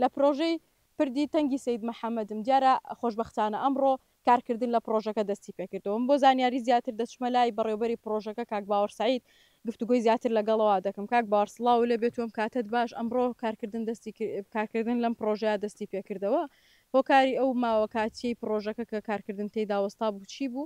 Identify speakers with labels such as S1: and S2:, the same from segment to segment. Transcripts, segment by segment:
S1: لە پرۆژەی پردی تەنگی سەید محەمەدم، دیارە خۆشبەختانە ئەمڕۆ کارکردن لە پرۆژەکە دەستی پێکردەوە. من بۆ زانیاری زیاتر دەچمە لای بەڕێوبەری پرۆژەکە کاک باوەڕ سەعید گفتوگۆی زیاتر لەگەڵەوە دەکەم. کاک باوەڕ سڵاوو لێ بێت و ئەم کاتەت باش، ئەمڕۆ کارکردن دەستی کارکردن لەم پرۆژەیە دەستی پێکردەوە. هۆکاری ئەو ماوە کاتییەی پرۆژەکە کە کارکردن تێیدا وەستابوو چی بوو؟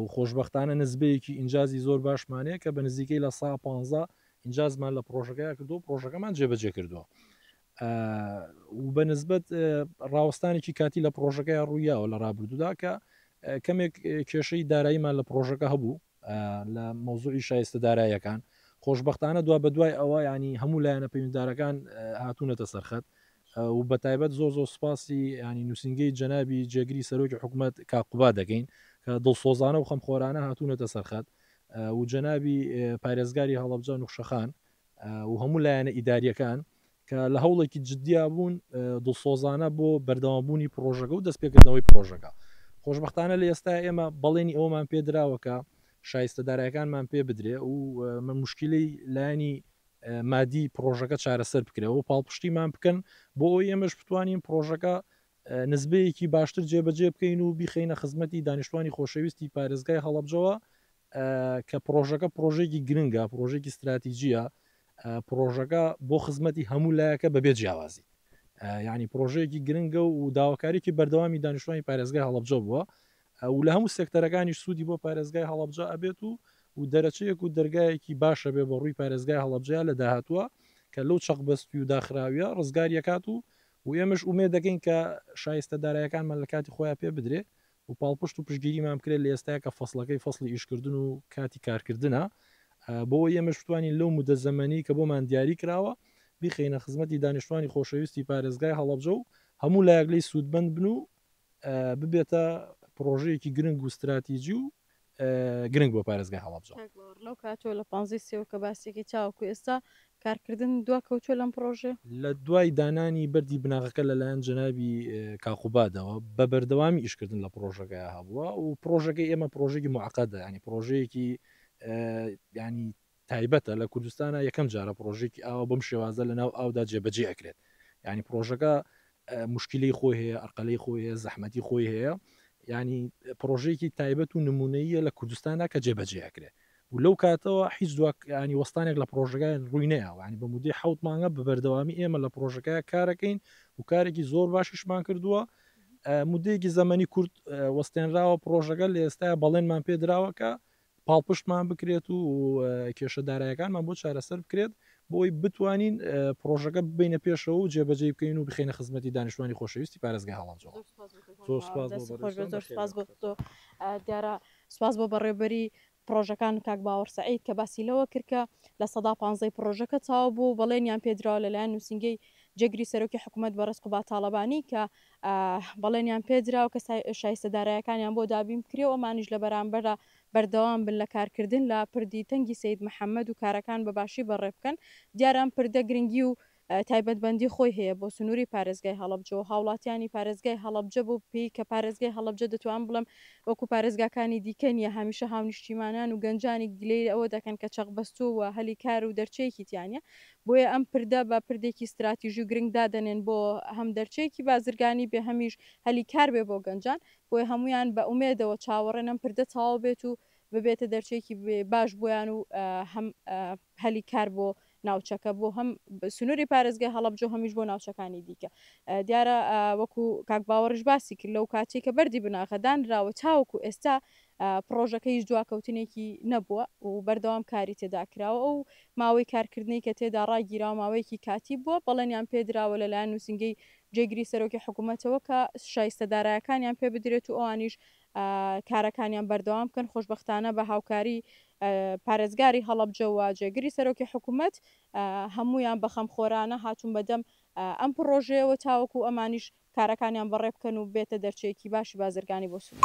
S2: و خۆشبەختانە نسبەیەکی ئینجازی زۆر باشمان هەیە کە بە نزیکەی لە سا پانزا ئینجازمان لە پرۆژەکەیا کردو و پرۆژەکەمان جێبەجێ کردووە و بە نسبەت ڕاوەستانێکی کاتی لە پرۆژەکەی ڕوویاوە لە ڕابردوودا کە کەمێک کێشەی داراییمان لە پرۆژەکە هەبوو لە مەوزوعی شایستە دارایەکان خۆشببختانە دوا بە دوای ئەوە ینی هەموو لایەنە پەیوەنددارەکان هاتوونەتە سەرخەت و بە تایبەت زۆر زۆر سوپاسی یانی نووسینگەی جەنابی جێگری سەرۆکی حکومەت کاک قوباد دەکەین کە دڵسۆزانە و خەمخۆرانە هاتوونەتە سەرخەت و جەنابی پارێزگاری هەڵەبجە نوخشەخان و هەموو لایەنە ئیداریەکان کە لە هەوڵێکی جددیا بوون دڵسۆزانە بۆ بەردەوامبوونی پرۆژەکە و دەستپێکردنەوەی پرۆژەکە خۆشببختانە لە ئێستا ئێمە بەڵێنی ئەومان پێدراوەکە شایستە دارایەکانمان پێ بدرێ و من مشکلی لایانی مادی پڕۆژەکە چارەسەر بکرێ و پاڵپشتیمان بکەن بۆ ئەوەی ئێمەش بتوانین پڕۆژەکە نزبەیەکی باشتر جێبەجێ بکەین و بیخینە خزمەتی دانیشتوانی خۆشەویستی پارێزگای هەڵبجەوە کە پرۆژەکە پرۆژێکی گرنگە پرۆژێکی استراتیجیە پرۆژەکە بۆ خزمەتی هەموو لایەکە بەبێ جیاوازی ینی پرۆژەیەکی گرنگە و داواکاریی بەردەوامی دانیشتوانی پارێزگای هەڵبجە بووە و لە هەموو سێکتەرەکانیش سوودی بۆ پارێزگای هەڵەبجە ئەبێت و و دەرەچەیەک و دەرگایەکی باش ئەبێ بە ڕووی پارێزگای هەڵەبجەیا لە داهاتووا کە لەو چەق بەستووی و داخراویە ڕزگاری ئەکات و و ئێمەش ئومێد دەکەین کە شایستە دارایەکانمان لە کاتی خۆیا پێ بدرێ و پاڵپشت و پشتگیریمان بکرێ لە ئێستایا کە فەسڵەکەی فەسڵی ئیشکردن و کاتی کارکردنە بۆ ئەوەی ئێمەش بتوانین لەو مودە زەمەنی کە بۆمان دیاری کراوە بیخەینە خزمەتی دانیشتوانی خۆشەویستی پارێزگای هەڵەبجە و هەموو لایەک لێی سوودمەند بن و ببێتە پڕۆژەیەکی گرنگ و ستراتیجی و گرنگ بۆ پارێزگای هەڵەبجە. لەو کاتەوە لە
S1: پانزەی سێوە کە باسیەکەی تاوەکو ئێستا کارکردن دوا کەوتووە لەم پڕۆژەیە؟ لە دوای
S2: دانانی بەردی بناغەکە لەلایەن جەنابی کاک قوبادەوە بە بەردەوامی ئیشکردن لە پڕۆژەکەی هەبووە و پڕۆژەکەی ئێمە پڕۆژێکی معقدە ینی پڕۆژەیەکی ینی تایبەتە لە کوردستانا یەکەم جارە پڕۆژەیەکی ئاوا بەم شێوازە لە ناو ئاودا جێبەجێ ئەکرێت یانی پڕۆژەکە موشکیلەی خۆی هەیە ئەرقەلەی خۆی هەیە زەحمەتی خۆی هەیە ینی پرۆژەیەکی تایبەت و نمونەیە لە کوردستاندا کە جێبەجێ ئەکرێت و لەو کاتەوە هیچ دوکانی وەستانێک لە پرۆژەکە ڕووی نەیەوانی بە مدەی حوت مانگە بە بەردەوامی ئێمە لە پرۆژەکە کارەکەین و کارێکی زۆر باشیشمان کردووە مدەیەکی زەمەنی کورد وەستێنراوە پرۆژەکە لە ئێستا بەڵێنمان پێدراوەکە پاڵپشتمان بکرێت و کێشە دارایەکانمان بۆ چارەسەر بکرێت بۆی بتوانین پرۆژەکە ببینە پێشەوە و جێبەجێ بکەین و بخینە خزمەتی دانیشتوانی خۆشەویستی پارێزگە هەڵەبجە دیارە
S1: سواز بۆ بەڕێبەری پرۆژەکان کاک باوەڕ سعید کە باسی لەوە کردکە لە سەدا پانزەی پرۆژەکە چاو بوو بەڵێنیان پێدراوە لەلایەن نووسنگەی جێگری سەرۆکی حکوومەت بەڕێز قوبا تاالبانی کە بەڵێنیان پێدراو کە شایستە دارایەکانیان بۆ دابین بکرێ و ئەمانیش لە بەرامبەردا بەردەوام بن لە کارکردن لە پردی تەنگی سەید محەمەد و کارەکان بە باشی بەڕێ بکەن. دیارە ئەم پردە گرنگی و تایبەتمەندی خۆی هەیە بۆ سنووری پارێزگای هەڵەبجە و هاوڵاتیانی پارێزگای هەڵەبجە بەو پێی کە پارێزگای هەڵەبجە دەتوانم بڵێم وەکوو پارێزگاکانی دیکە نییە هەمیشە هاونیشتیمانان و گەنجانی گلەی ئەوە دەکەن کە چەقبەستووە و هەلی کار و دەرچەیەکی تیا نییە بۆیە ئەم پردە بە پردێکی ستراتیژی و گرنگ دادەنێن بۆ هەم دەرچەیەکی بازرگانی بێ هەمیش هەلی کار بێ بۆ گەنجان، بۆیە هەموویان بە ئومێدەوە چاوەڕێن ئەم پردە تەواو بێت و ببێتە دەرچەیەکی باش بۆیان و هەم هەلی کار بۆ ناوچەکە بۆ هەم سنووری پارێزگای هەڵەبجە و هەمیش بۆ ناوچەکانی دیکە دیارە وەکو کاک باوەڕیش باسی کرد لەو کاتێک کە بەردی بناغە دانراوە تاوەکو ئێستا پڕۆژەکەیش دواکەوتنێکی نەبووە و بەردەوام کاری تێدا کراوە، ئەو ماوەی کارکردنەی کە تێدا ڕاگیراوە ماوەیەکی کاتی بووە، بەڵێنیان پێ دراوە لەلایەن نووسینگەی جێگری سەرۆکی حکوومەتەوە کە شایستە دارایەکانیان پێ بدرێت و ئەوانیش کارەکانیان بەردەوام بکەن، خۆشبەختانە بە هاوکاری پارێزگاری هەڵەبجە و جێگری سەرۆکی حکوومەت هەموویان بە خەمخۆرانە هاتوون بەدەم ئەم پڕۆژەیەوە تاوەکوو ئەمانیش کارەکانیان بەڕێ بکەن و ببێتە دەرچەیەکی باشی بازرگانی بۆ سنوور.